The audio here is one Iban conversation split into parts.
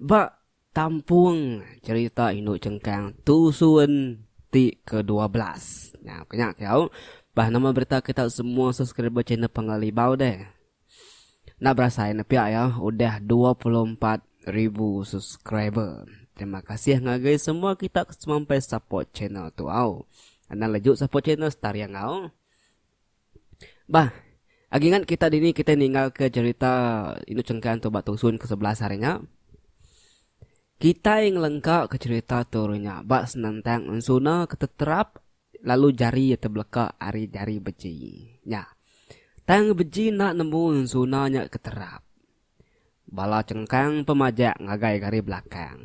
Ba tampung cherita indu chengkang Tusun ti ke dua belas. Nya ko nya kau. Bah nama berita kita semua subscriber channel Pangga Libau deh. Enda berasai ne pia ya udah dua puluh empat ribu subscriber. Terima kasih ngagai semua kita ke semampai support channel tu au. Anang leju support channel Star Yangau. Bah, agi ngan kita dini kita ninggalka cerita indu cengkan tu ba tusun ke sebelas hari nya. Kitai ngelengka ke cerita tu hari nya ba senentang ensuna ke teterap lalu jari iya tebeleka ari jari beji. Nya. Tang beji enda nemu ensuna nya ke terap. Bala cengkang pun majak ngagai ke ari belakang.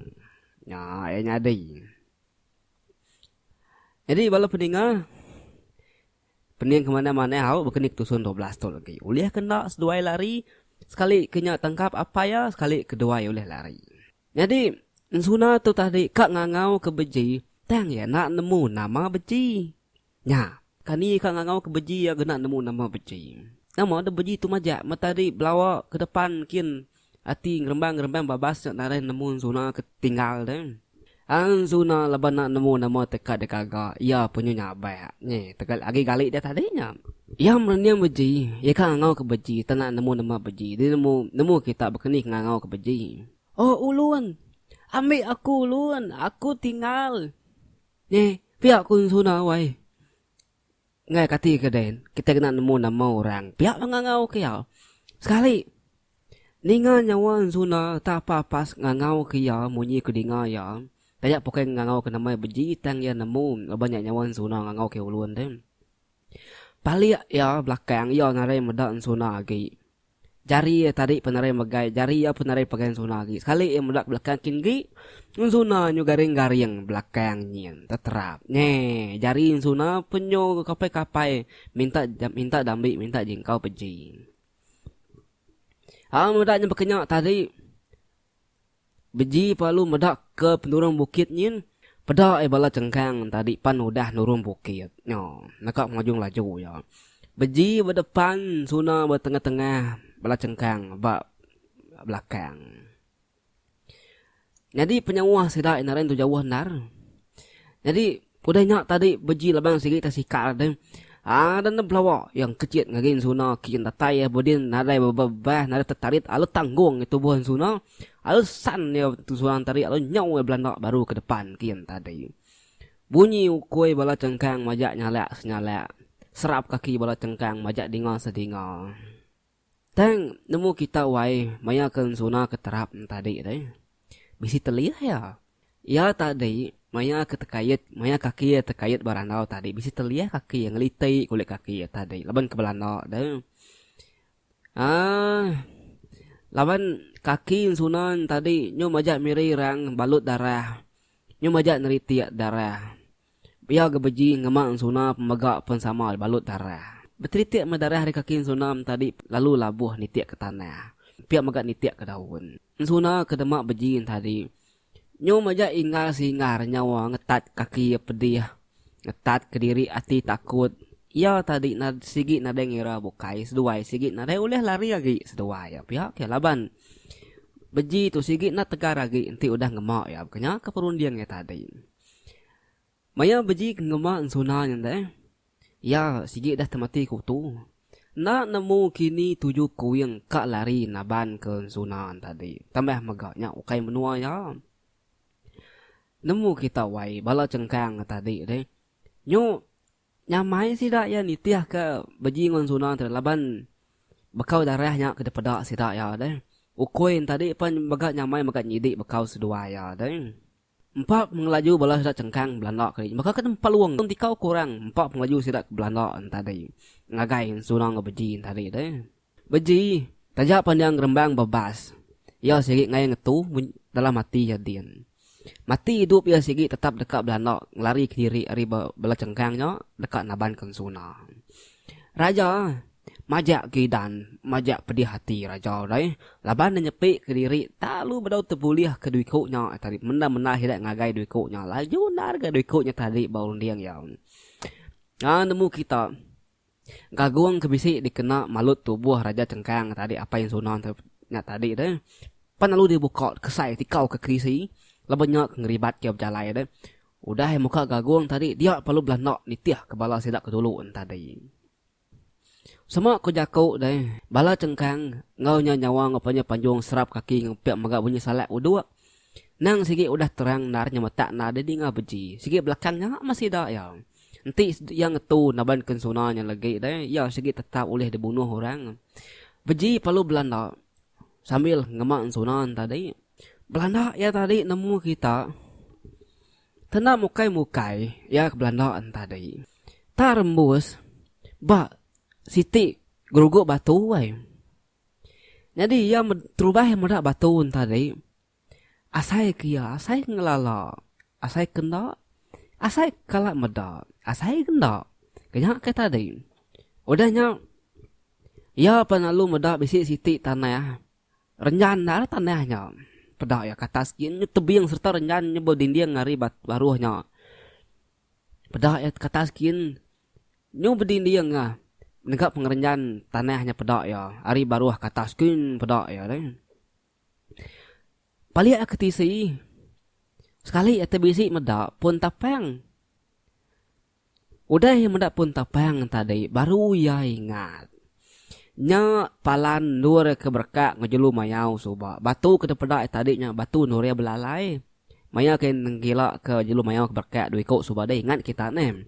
Nya iya nyadi. Jadi bala peninga. Pening ke manah manah au baka ni ke tusun dua belas tu agi. Ulih ke enda seduai lari, sekali ke nya tangkap apai iya sekali ke duai ulih lari. Nyadi ensuna tu tadi ka ngangau ke beji tang iya enda nemu nama beji. Nya, kani iya ka ngangau ke beji iya ga enda nemu nama beji. Nama deh beji tu majak meh tadi belawa ke depan kin Ati ngerembang-ngerembang babas nya narai nemu enzuna ke tinggal deh. Enzuna laban enda nemu nama teka deh gaga iya punyu nyabak nyi tegal agi gali deh tadi nya. Iya merening beji, iya ka ngangau ke beji tang enda nemu nama beji deh nemu nemu kita bekeni ke ngangau ke beji. Oh ulun, ambi aku ulun, aku tinggal. Nyi, pia ku enzuna wai. Enggai kati ke den, kitai kena nemu nama orang pia ba ngangau ke iya. Sekali, ninga nyawa enzuna reta apai pas ngangau ke iya munyi ke dinga iya, taja pokai ngangau ke nama iya beji tang iya nemu laban nya nyawa enzuna ngangau ke ulun tu. Palik iya belakang iya ngarai meda enzuna agi. Jari iya tadi penerai megai jari iya penerai pegai enzuna agi. Sekali iya meda ke belakang kin agi, enzuna nyu garing-garing belakang nyin teterap. Nge, jari enzuna pun nyu kapai-kapai minta minta dambi minta jingkau peji. Au meda nyu bekenya tadi. Beji palu meda ke penurung bukit nyin peda ai bala chengkang tadi pan udah nurung bukit nya neka ngujung laju iya. Beji ba depan suna ba tengah tengah bala chengkang ba belakang. Nyadi penyauh sida ina ari entu jauh endar. Nyadi. Udah nya tadi beji laban sigi tang sikal deh. Haa dan nebelawa iya engkecit ngagai ensuna kikin datai iya bedin nadai bebebah nadai tetarit alu tanggung ngi tubuh ensuna alu san iya seorang tadi alu nyau iya belanda baru ke depan kikin tadi. Bunyi ukui bala chengkang majak nyalak senyalak. Serap kaki bala chengkang majak dinga sedinga. Tang, nemu kita wai maya ke ensuna ke terap ne tadi deh. Bisi telih iya. Iya tadi maya ke tekait, maya kaki iya tekait ba randau tadi bisi telih kaki iya ngeliti kulit kaki iya tadi laban ke belanda deh. Aaa laban kaki ensuna ne tadi nyau majak miri rang balut darah. Nyau majak neritik darah. Pia ke beji ngema ensuna pemega pensama dibalut darah. Betelitik meh darah ari kaki ensuna entadi lalu labuh nitik ke tanah. Pia mega nitik ke daun. Ensuna ke dema beji entadi nyum aja inggar singgar nyawa ngetat kaki iya pedih, ngetat ke diri ati takut. Iya tadi nad sigi nadai ngira bukai seduai sigi nadai ulih lari agi seduai iya pia ke laban beji tu sigi nda tegar agi enti udah ngema iya. Baka nya ke perunding iya tadi. Maya beji ke ngema ensuna nya enda eh. Iya sigi dah temati kutu. Enda nemu kini tuju kuing ka lari naban ke ensuna tadi. Tambah mega nya ukai menua iya. Nemu kita wai bala chengkang ke tadi deh. Nyu nyamai sida iya nitih ke beji enggau ensuna tadi laban bekau darah nya ke dipeda sida iya deh. Ukui nya tadi pan mega nyamai mega nyidi bekau seduai iya deh. Empa pengelaju bala sida chengkang Belanda keli baka ke nempa luang tang dikau ke orang empa pengelaju sida ke Belanda entadi ngagai Ensuna enggau Beji entadi deh. Beji, taja pan iya ngerembang ba bas, iya sigi ngai ngetu munyi dalam ati iya din. Mati idup iya sigi tetap deka Belanda ngelari kediri ari ba bala chengkang nya deka nabanka Ensuna. Raja, Majak ke Idan, majak pedih ati raja deh laban ne nyepi ke diri talu bedau tebulih ke dui ku nya tadi menda menda sida ngagai dui ku nya laju endar ga dui ku nya tadi ba runding iya. Nyau nemu kita gagung ke bisi dikena malut tubuh raja chengkang tadi Apai Ensuna nya tadi deh pan lalu dibuka kesai tikau ke kerisi laban nya ke ngeribat iya bejalai deh Udah muka gagung tadi dia perlu belanda nitih ke bala sida ke dulu entadi. Sama ku jaku deh, bala chengkang enggau nya nyawa enggau panya panjung serap kaki enggau pek mega bunyi salak uduk. Nang sigi udah terang endar nya metak endar di ninga beji. Sigi belakang nya meh sida iya. Enti iya ngetu naban kensuna nya legi deh, iya sigi tetap ulih dibunuh orang. Beji perlu belanda. sambil ngema sunan tadi belanda iya tadi nemu kita kena mukai mukai iya ke belanda tadi tak rembus ba siti geruguk batu ai nyadi iya terubah meda batu tadi. Asai ke iya, asai ngelala, asai ke enda, asai kala meda, asai ke enda, ke nya ke tadi. Udah nya iya pan lalu meda bisi siti tanah renjan enda lah tanah nya. Peda iya ke atas gin nya tebing sereta renjan nya bedinding ari baruh nya. Peda iya ke atas gin nyu bedinding ah nega pengerenjan tanah nya peda iya ari baruh ke atas gin peda iya deh. Palik aku tisi. Sekali aku bisi meda pun tapang. Udah iya meda pun tapang tadi baru iya ingat. Nya palan endur ke berekak enggau jelu mayau suba. Batu ke dipeda iya tadi nya batu endur iya belalai. Maya ke nengkila ke jelu mayau ke berekak dua iku suba deh ingat kita neh.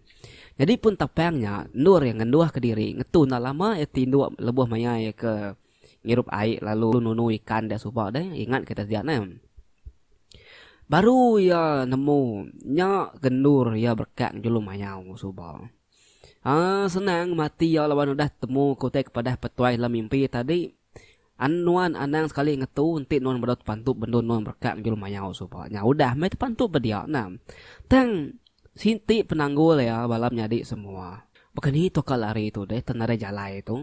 Jadi pun tapang nya endur iya ngenduhka diri ngetu enda lama iya ti indu lebuh maya iya ke. Ngirup ai lalu nunu ikan dia suba deh ingat kita dia neh. Baru iya nemu nya gendur iya berkak ngejulum mayau suba. Haa senang mati iya laban udah temu ke utai ke padah petuai dalam mimpi tadi. An nuan anang sekali ngetu enti nuan bedau tepantu bendu nuan berkak ngejulum mayau suba nya udah meh tepantu ba dia nah. Tang siti penanggul iya bala menyadi semua. Baka ni tu ka lari tu deh tan nadai jalai tu.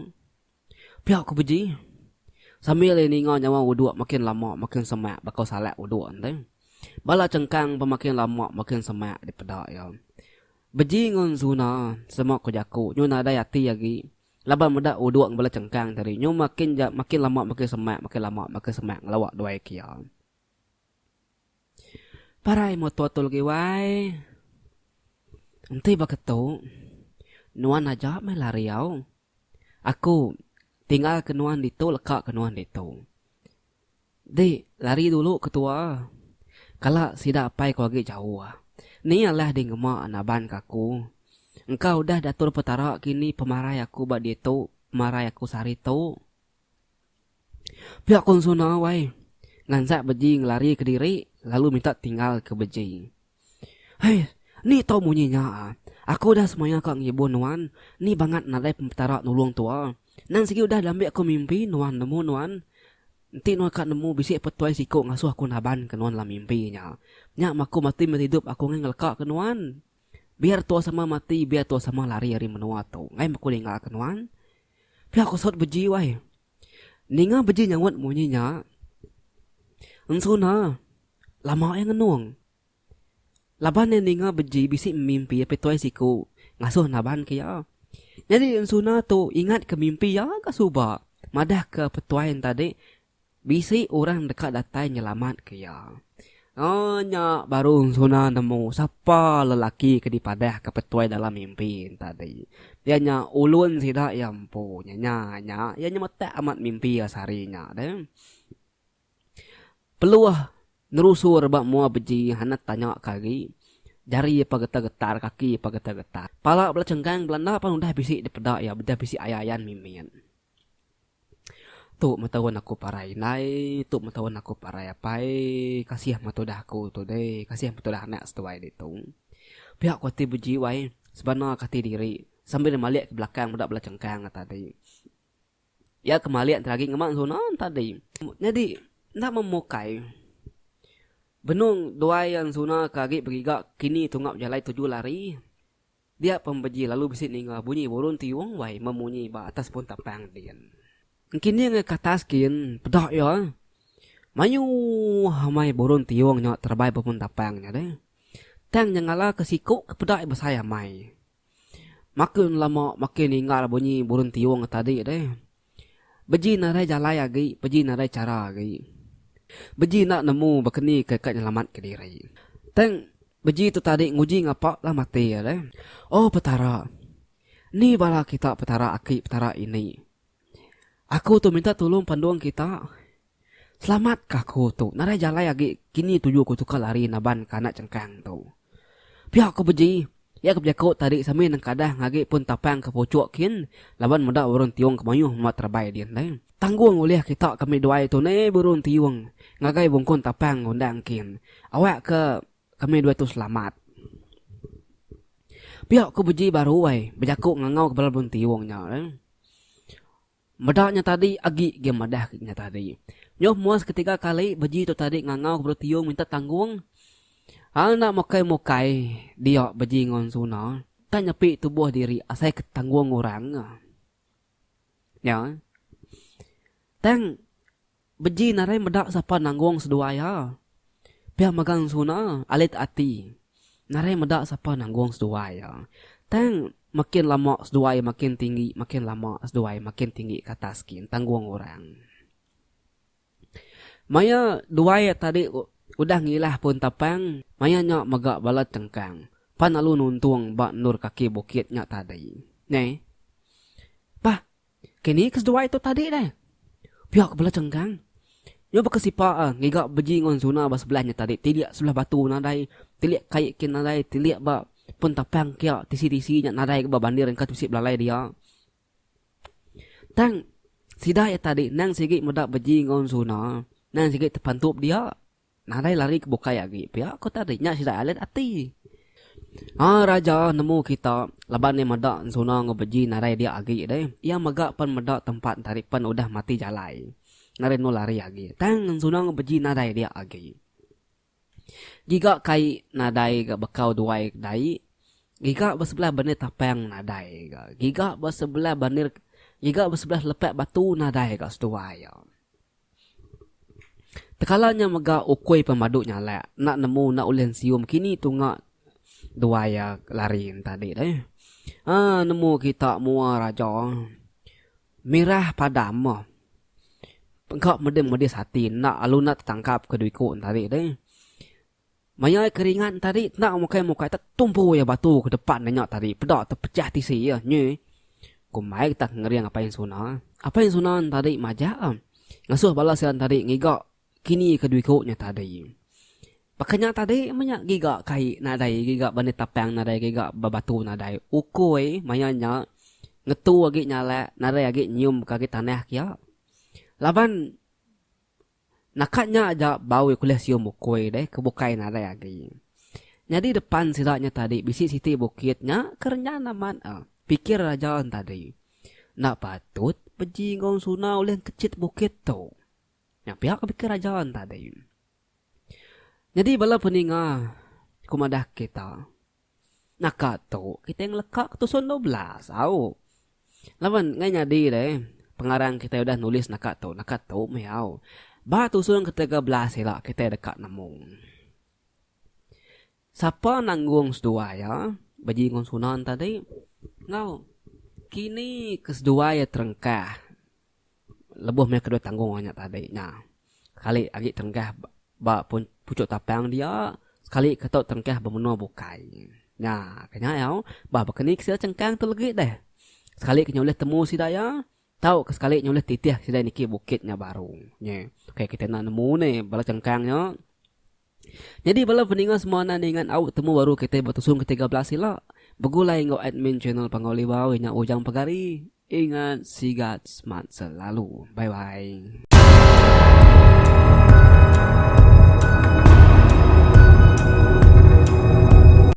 Pia ku Beji sambil iya ninga nyawa uduk makin lama makin semak baka salak uduk enti. Bala chengkang pun makin lama makin semak dipeda iya. Beji enggau Zuna sema ku jaku nyu nadai ati agi laban meda uduk enggau bala chengkang tadi nyu makin ja makin lama makin semak makin lama makin semak ngelawa duai ke iya. Parai motor tu legi wai. Enti baka tu nuan aja meh lari au. Aku tinggal ke nuan ditu leka ke nuan ditu. Di lari dulu ke tua kala sida apai ku agi jauh. Ni alah di ngema naban ke aku. Engka udah diatur Petara kini pemarai aku ba ditu pemarai aku sehari tu. Pia konsona wai nganjak beji ngelari ke diri lalu minta tinggal ke beji. Hei ni tau munyi nya ah. Aku udah semaya ka ngibun nuan ni bangat nadai pempetara nulung tua. Nan sigi udah diambi aku mimpi nuan nemu nuan. Enti nuan ka nemu bisi pe tuai siko ngasuh aku naban ke nuan dalam mimpi nya. Nya maku mati meti idup aku ngeleka ke nuan. Biar tua sama mati biar tua sama lari ari menua tu ngai meko ninga ke nuan. Pia ko sut beji wai. Ninga beji nyaut munyi nya. Ensuna lama iya ngenung. Laban iya ninga beji bisi memimpi apai tuai siku ngasuh naban ke iya. Nyadi ensuna tu ingat ke mimpi iya ga suba madah ke petuai ntadi Bisi orang deka datai nyelamatka iya. Ngagai nya baru Suna nemu sapa lelaki ke dipadahka Petuai dalam mimpi tadi. Iya nya ulun sida iya empu. Nyanya nya iya nyemetak amat mimpi iya sehari nya deh. Peluh nerusur ba mua beji Hanat tanya ke agi, jari iya pa getar-getar, kaki iya pa getar-getar. Pala bela cengkang bela enda pan udah bisi dipeda iya, udah bisi ayan-ayan mimin. Tu meh taun aku parai indai, tu meh taun aku parai apai. Kasih meh tudah aku tu deh, kasih meh tudah anak seduai ditu. Pia ku ati beji wai, sebanarka ati diri sambil ne malik ke belakang meda bala chengkang ne tadi. Iya ke malik enti agi ngema suna ne tadi. Nyadi enda meh mukai benung duai iya suna ke agi begiga kini tunga bejalai tuju lari. Dia pembeji lalu bisi ninga bunyi burung tiung wai memunyi ba atas punta pang din. Engkining ngai katas kin peda iya. Mayuh amai burung tiung nya terebai ba punta pang nya deh. Tang nyengala ke siku ke peda iya besai amai. Makin lama makin ninggal bunyi burung tiung tadi deh. Beji narai jalai agi, beji narai chara agi. Beji enda nemu bakeni ke ka nyelamatka diri. Tang beji tu tadi nguji ngapa lah mati alai. Oh Petara! Ni bala kita Petara aki, Petara ini. Aku tu minta tulung pandung kita. Selamatka aku tu. Nadai jalai agi kini tuju aku tukar lari naban ka anak chengkang tu. Pia ku beji, iya ke bejaku tadi sambil nengkadah ngagi pun tapang ke puchuk kin laban meda burung tiung ke mayuh muat rabai din deh. Tanggung ulih kita ke mih duai tu neh burung tiung ngagai bungkun tapang ngundang kin awak ke kami dua tu selamat. Pia ku beji baru ai bejaku ngangau kepala burung tiung nya. Meda nya tadi agi ge madah nya tadi. Nyuh muas ketiga kali beji tu tadi ngangau ke belu tiung minta tanggung. Hang enda mukai-mukai dia beji ngon Suna tang nyepi tubuh diri asai ke tanggung orang. Nya. Tang. Beji narai meda sapa nanggung seduai ha. Pia mega ensuna alit ati narai meda sapa nanggung seduai ha. Tang makin lama seduai makin tinggi makin lama seduai makin tinggi ke atas gin tanggung orang. Maya duai tadi udah ngilah pun tapang maya nya mega bala chengkang pan lalu nuntung ba endur kaki bukit nya tadi. Neh. Bah Kini ke seduai tu tadi deh. Pia ke bela cenggang. Nyu baka sipa a ngiga beji ngun zuna ba sebelah nya tadi tilik sebelah batu nadai tilik kai kin nadai tilik ba pun tapang kia tisi-tisi nya nadai ga ba bandir engka ti bisi belalai dia. Tang sida iya tadi nang sigi meda beji ngun zuna nang sigi tepantup dia. Nadai lari ke bukai agi pia ko tadi nya sida alet ati. Ha raja nemu kita laban iya meda Nsuna enggau Beji nadai dia agi deh. Iya mega pen meda tempat Ntari pen udah mati jalai. Nadai enu lari agi. Tang Nsuna enggau Beji nadai dia agi. Giga kai nadai ga bekau duai ke dai. Giga ba sebelah benir tapang nadai ga. Giga ba sebelah benir giga ba sebelah lepak batu nadai ga seduai iya. Tekala nya mega ukui pemadu nyalak enda nemu enda ulih nesium kini tunga duai iya lari tadi tu eh. Ha nemu kita mua raja mirah padam meh engka medis-medis ati enda lalu enda tetangkap kedui ku tadi tu eh. Maya ai keringat entadi enda mukai mukai tetumpu iya batu ke depan iya nya tadi peda tepechah tisi iya nyi. Ku Mike tak ngering Apai Insuna. Apai Insuna entadi majak ngasuh bala sida entadi ngiga kini ke diku nya tadi. Baka nya tadi menya giga kai nadai giga bani tapang nadai giga ba batu nadai ukoi maya nya ngetu agi nyalak nadai agi nyium ka agi tanah kiya. Laban. Naka nya aja bau iya kulih sium bukui deh ke bukai nadai agi. Nyadi depan sida nya tadi bisi siti bukit nya ke renyan amat eh. Pikir raja en tadi. Enda patut beji enggau Ensuna ulih engkechit bukit tu. Nya pia ke pikir raja en tadi. Nyadi bala peninga ku madah kita. Naka tu kitai ngeleka ke tusun dua belas au. Laban ngai nyadi deh pengarang kitai udah nulis naka tu naka tu meh au. Ba tusun ke tiga belas ila kitai deka nemu. Sapa nanggung seduai iya beji ngun sunan tadi enggau kini ke seduai iya terengkah lebuh meh kedua tanggung orang nya tadi nya. Sekali agi terengkah ba puchuk tapang dia, sekali ke tu terengkah ba menua bukai. Nya ke nya au, bah baka ni ke sida chengkang tu legi deh. Sekali ke nya ulih temu sida iya, tau ke sekali nya ulih titih sida niki bukit nya baru. Nyi, ke kita enda nemu ni bala chengkang nya. Nyadi bala peninga semua enda ningat au betemu baru kitai betusung ke tiga belas ila. Begulai enggau admin channel Panggau Libau inya Ujang Pagari. Ingat sigat smart selalu. Bye bye.